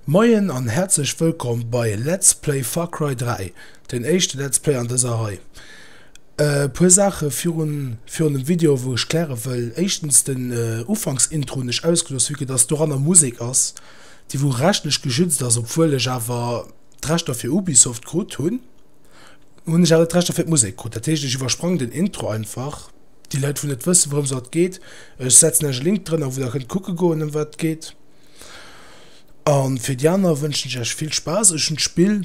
Moien an häerzlech wëllkomm bei Let's Play Far Cry 3, den éischte Let's Play an dëser Rei. E puer Saache virun virun dem Video wou ech kläre wëll, éischtens den Ufanksintro hunn ech ausgelooss vue que dass doranner Musek ass déi wou rechtlech geschützt ass, obwuel ech awer d'Rechter fir Ubisoft krut hunn, hunn ech awer net d'Rechter fir d'Musek krut, dat heescht ech iwwersprang den Intro einfach, déi Leit wou net wëssen wourëms dat geet, ech setzen iech e Link drënner wou der kënnt kucke goen ëm wat et geet. An fir déi aner wënschen ech iech vill Spaass. Ech hunn d'Spill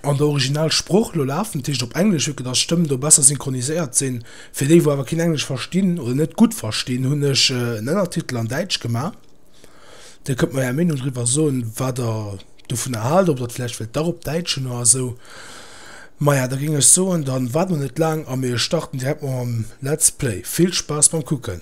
an der Originalsprooch elo lafen, dat heescht op Englesch, vu que dass d'Stëmmen do besser synchroniséiert sinn. Fir déi wou awer keen Englesch verstinn oder net gutt verstinn, hunn ech en Ënnertitel an Däitsch gemaach. Dir kënnt mer är Meenung driwwer soen, wat der dovunner haalt, ob der et vläicht wëllt dach op Däitsch hunn oder esou. Maja, da géing ech soen, da waarde mer net laang a mir starten direkt mam Let's Play. Vill Spaass beim Kucken!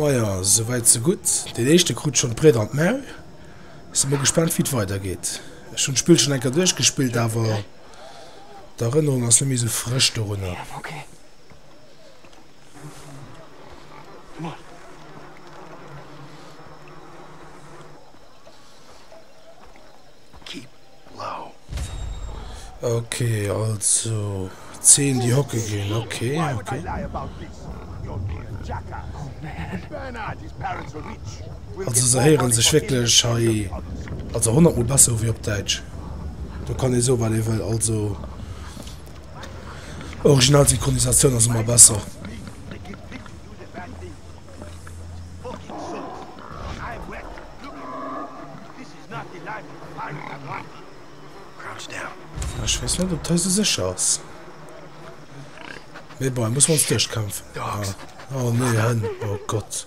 Maja sou wäit sou gutt. Den éischte krut schonn d'Briet an d'Maul. Si mer gespannt wéi et weider geet. Ech hunn d'Spill schonn eng Kéier duerchgespillt awer d'Erënnerung ass net méi sou frësch dorunner. Okay, also 10 die hocke gin okay, okay. Also se heieren sech wkleg hei also 100 mol besser wéi op Däitsch. Do kann ee soe wat ee wëll also. Original Synchronisatioun ass emmer besser. Ech wees net op d'Hëse sech ass. Mee bon, muss mer ons duerchkämpfen. Oh nee, Hënn, oh Gott.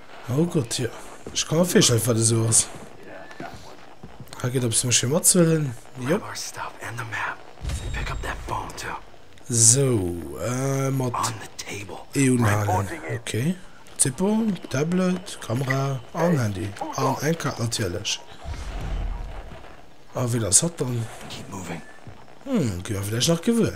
Oh Gott, jo. Ech ka mer virstellen, wat et esou ass. Hei geet eppes méch fir matzehuelen. Jop. Esou, mat E unhalen. Ok. Zippo, Tablet, Kamera an Handy. An eng Kaart natierlech. A wien ass hatt dann? Hm, gi mer villäicht nach gewuer.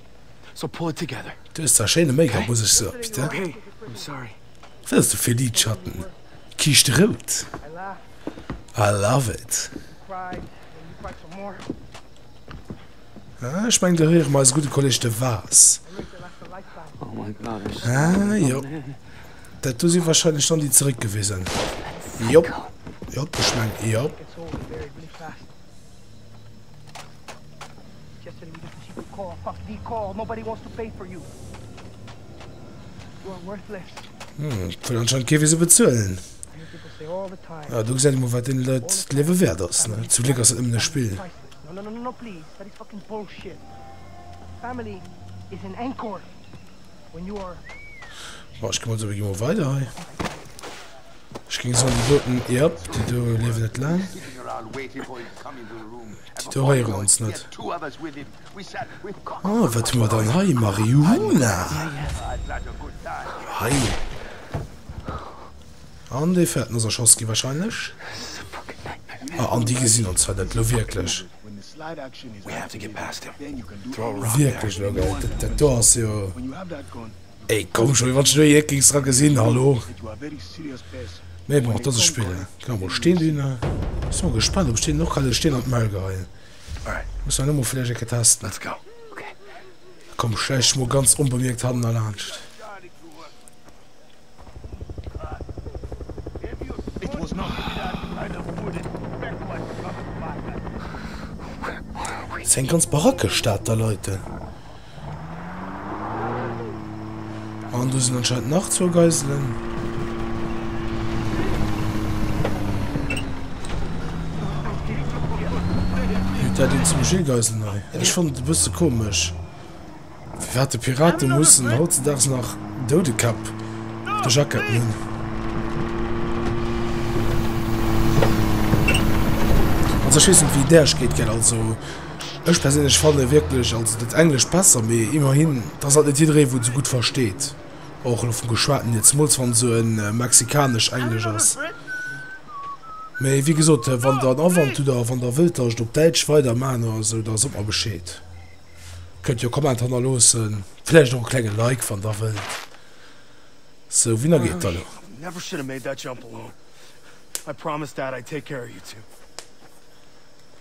So pull it together. Du hues zwar schéine Make-up, muss ech soen, Pit, hein? Wat hues du fir Lidschatten? Kiischt rout? I love it! Ah, ech mengen, do héiere mer eise gudde Kolleg de Vaas. Ah, jo. Dat do si warscheinlech dann déi zeréckgewisen. Jop, jop, ech mengen, jop. Hm, et wëll anscheinend kee fir se bezuelen. Ah, do gesäit ee mol, wat deene Leit d'Liewe wäert ass, ne? Zum Gléck ass dat nëmmen e Spill. Bon, ech gemooss, mir gi mol weider hei. Ech géing soen, déi doten, yep, déi do liewen net laang. Titoréieren ons net. Oh, wat hu mer dann hei? Marihuana! Hei. An dee fäerten ass erschoss gi wahrscheinlech. Ah, an déi gesinn ons fäert et elo wierklech. Wierklech elo, gell? Dat do ass jo. Ey komm schon, wéi wann ech do jee gings dra gesin, hallo? Mee bon, dat ass e Spill, hein. Gin awer mol Steen dinn. Sin mol gespannt op ech deenen och kann e Steen an d'Maul geheien. Muss mer nëmme vläicht eng Kéier testen. Komm schläich ech mol ganz onbemierkt hannen erlaanscht. Ass eng ganz barackeg Stad da Leute. An do sinn anscheinend nach zwou Geiselen. Huet dat een zum Gilles Geisel nei? Ech fand et e bësse komesch, firwat de Pirate mussen hautzedaags nach Doudekäpp op de Jacketten hunn. Also ech weess net wéi där, ech geet gär also. Ech perséinlech fanne wierklech also dat Englescht besser, mee immerhin, et ass halt net jiddereen, wou et esou gutt versteet, och elo vum Geschwaten hier, zemools wann et esou e mexikanescht Englesch ass. Mee wéi gesot, wann Der en Awand hutt a wann Der wëllt, dass ech et op Däitsch weidermaachen oder esou, da sot mer Bescheed. Kënnt jo e Comment hannerloossen, vläicht och e klenge Like, wann Der wëllt. Sou, wien da geet da elo?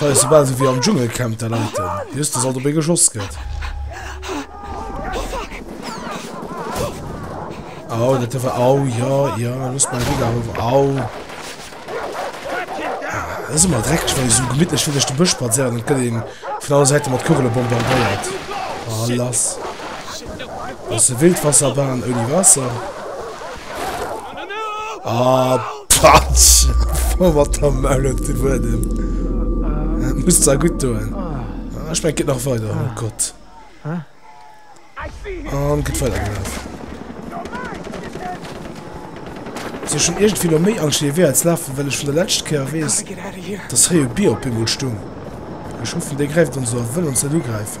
Hei ass soubal souwéi am Dschungelcamp, de Leiten Justus alt op ee geschoss gëtt. Au, dat dierf er. Au, ja, ja, loss mei Dégâts eriwwer. Au. Dat ass ëmmer dreckeg, wann ee sou gemittlech fir duerch de Bësch spadséiert an et gëtt ee vun alle Säite mat Kugele bombardéiert. Oh, lass. Ass e Wildwasserbahn ouni Waasser. Ah, patsch! Voll mat der Maul op de Buedem. Dat muss da gutt doen. Ah, ich mein, geht nach weiter. Oh Gott. Und geht weiter gelaufen. So, schon irgendwie noch mehr Angst, wie als laufen, weil ich von der letzten Kehr weiß, dass hier ein Bier auf einmal stung. Ich hoffe, der greift uns so und will uns nicht angreifen.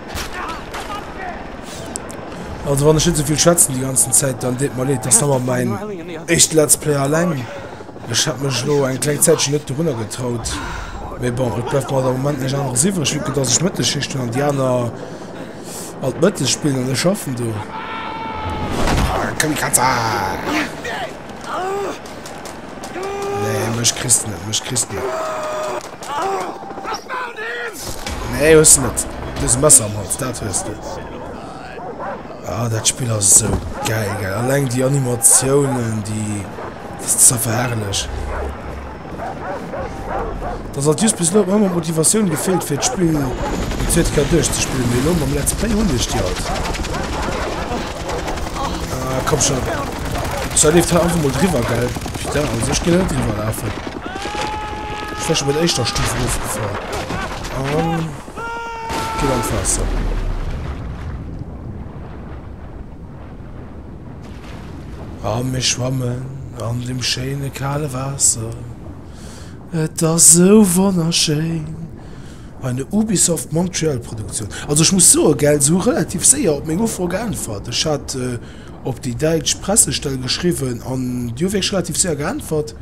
Also wann ech net soviel schwätzen die ganzen Zeit, dann deet mer leed, dass hammer mein echt Let's Play alleng. Ech hat mech lo eng kleng Zäitchen net dorunner getraut. Mais bon, et bleibt mer am Moment näicht aneres iwwreg, vu que dass ech Mëttesschicht hun an die aner all d'Mëttes spillen an ech schaffen do. Komm Kratzer! Nee, mech kriss net, mech kriss net. Nee, hues du net. Dës Messer am Hals, dat hues du. Ah, dat Spiel ass so geil, geil. Alleng die Animationen, die... Das ist so verherrlich. Dass alt just bis elo huet mer ëmmer Motivatioun gefeelt fir d'Spill déi zweet Kéier duerchzespillen, mee elo mam Let's Play hunn ech déi alt. Ah komm schon, Sea leeft hei einfach mol driwwer gell Putain, also ech ginn net driwwer lafen, ech wär schon bei der éischter Stuf erofgefall an ginn an d'Waasser. A mir schwammen an dem schéine kale Waasser. Et ass sou wonnerschéin! Eine Ubisoft Montreal Produktioun. Also ech muss soen, gell, se hu relativ séier op meng Ufro geäntwert. Ech hat op déi däitsch Pressestell geschriwwen an déi hu wierklech relativ séier geäntwert.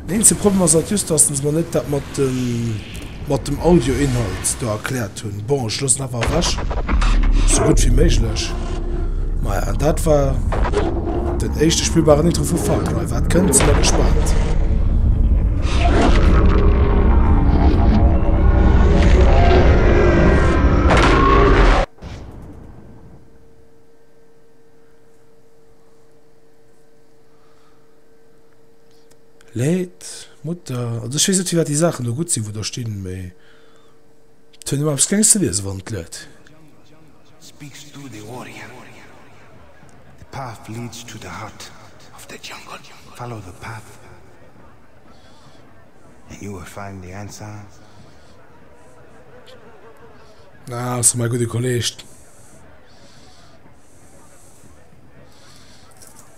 Den eenzege Problem ass halt just, datt se mer net dat mat den. Mat dem Audio Inhalt do erklärt hunn. Bon ech loossen awer ewech sou gutt wéi méiglech. Maja an dat war den éischte spillbaren Intro vu Far Cry. Wat kënnt si mer gespannt. Leed, Mutter, also ech weess net firwat déi Saachen do gutt sinn wou do stinn, mee et huet ëmmer eppes Klenges ze liesen wann et leet. Speaks to the warrior The path leads to the heart of the jungle Follow the path and you will find the answer Ah, ass mäi gudde Kolleeg.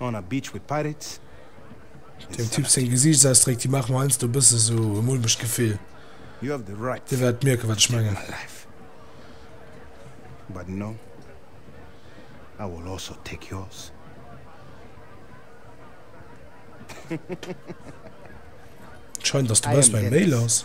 On a beach with pirates. Dem Typ seng Gesiichtsausdréck, déi maache mer heiansdo e bësse sou e mulmegt Gefill. Dir wäert mierken, wat ech mengen. Et scheint, dass de Bas mäi Mail ass.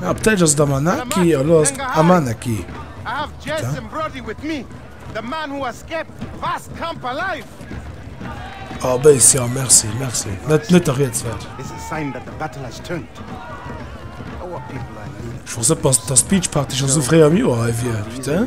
Ah, op Däitsch ass et Amanaki, a lo ass et Amanaki. Ah, béis, jo, merci, merci. Net, net der Rieds wäert. Ech wosst net, dass d'Beachparty scho sou fréi am Joer hei wier, putain.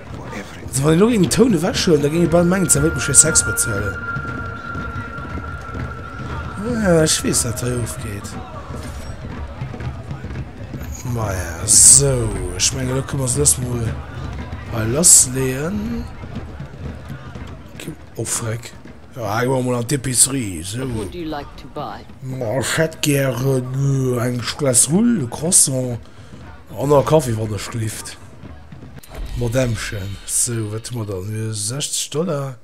Also wann ech elo géing den Toun ewech huelen, da géing ee bal mengen, d'Sau wëllt mech fir Sex bezuelen. Ah, ech weess, wat hei ofgeet. Maja, sou. Ech menge lo kënne mer se dës mol hei lassleeën. Oh, freck. Ja, hei goe mer mol an d'Epicerie, sou. Ma ech hätt gären eng Glace Rull, e Croissant. An a Kaffi wann ech gelift. Madämmchen, sou wat hu mer dann hei? 60 Dollar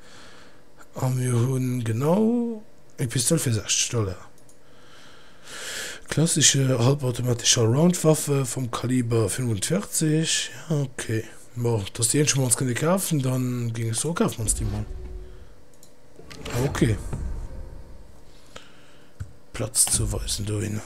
a mir hunn genau ee Pistol fir 60 Dollar. Klassesche hallbautomatescher Roundwaffe vum Kaliber 45, jo ok. Bon, dat ass déi eenzeg mol ons kënne kafen, dann géing ech soe kafe mer ons déi mol. Ok. Platz ze weisen dohinner.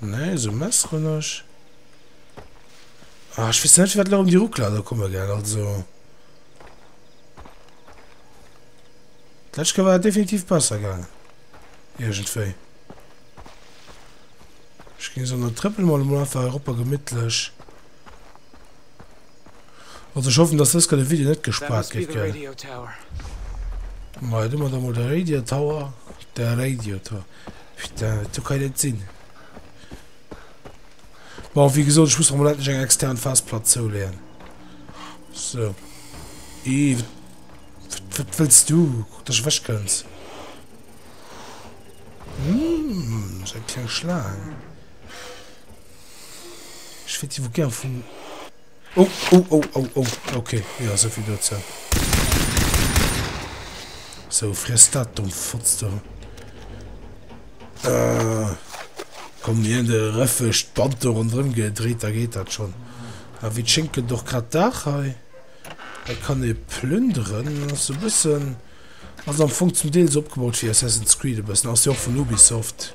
Nee, esou messeren ech. Ah, ech weess net, firwat lo erëm déi Ruckler do komme, gell, also. D'lescht Kéier war et definitiv besser gaangen. Iergendwéi. Ech ginn esou an der Trëppel mol emol einfach eropper gemittlech Also ich hoffen, dass das gerade Video net gespart gëtt, gell? Mei, du mat amol der Radio Tower, der Radio Tower. Putain, du kann net sinn. Bon, wie gesagt, ich muss mal endlich eng extern Festplatte zuleien. So. I, wat willst du? Guck, dass ich weg kannst. Hm, so ein kleiner Schlang. Ech wéilt iwwer gär vum. Oh, oh, oh, oh, oh, okay, ja, so viel dazu. So, friss dat, dumm Fotz da. Äh, komm, mir haben den Röffesch, die Band da rundherum gedreht, da geht das schon. Aber ah, wie schinken doch gerade Dach hei. Da kann ich plündern, das ist ein bisschen, also am Funk zum Teil so abgebaut wie Assassin's Creed, ein bisschen, das ist ja auch von Ubisoft.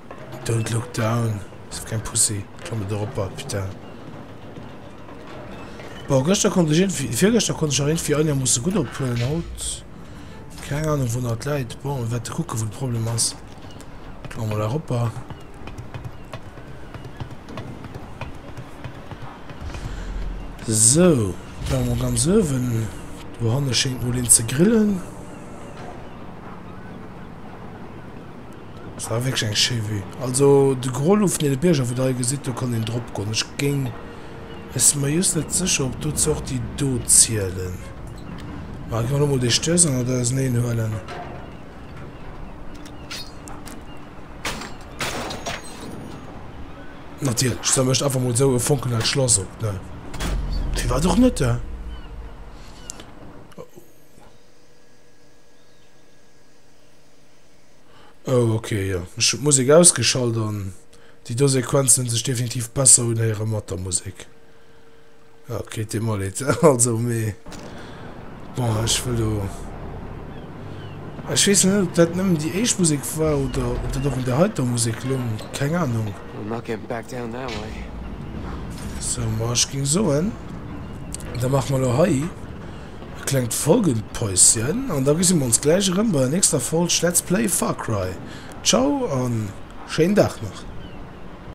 Don't look down, sou keng Pussy, klamme der oppert, putain. Bon, gëschter konnt ech irgendwie, virgëschter konnt ech nach irgendwie Anja musse gutt ophuelen, haut keng Ahnung wou dat läit. Bon, wäert de kucke wou de Problem ass. Klamme mer der opper. So, klamme mer ganz ëwen. Do hanne schéngt mol een ze grillen. Et war wierklech eng schéi Vue. Also de Gros lo vun deene Bierger wou der hei gesitt, do kann een drop goen. Ech géing, ech si mer jhust net sécher ob dozou och déi do zielen. Mä gi mer lo mol déi Stëss an et auserneen huelen. Natierlech, da mécht einfach mol esou e Fonkenhell d'Schlass op, ne? Firwat och net, he? Oh ok jo, ech hun d'Musik ausgeschalt an déi do Sequenzen hun sech definitiv besser unhéieren mat der Musik. Ja ok déi mol et also mee bon ech wëll do ech wees net op dat nëmmen déi éischt Musik war oder op dat och un der heiter Musik lung, keng Ahnung. So ma ech ging soen da maache mer lo hei E klengt Folgenpäuschen an da gesi mer ons gläich erëm bei der nächster Folg Let's Play Far Cry. Ciao a schéinen Dag nach!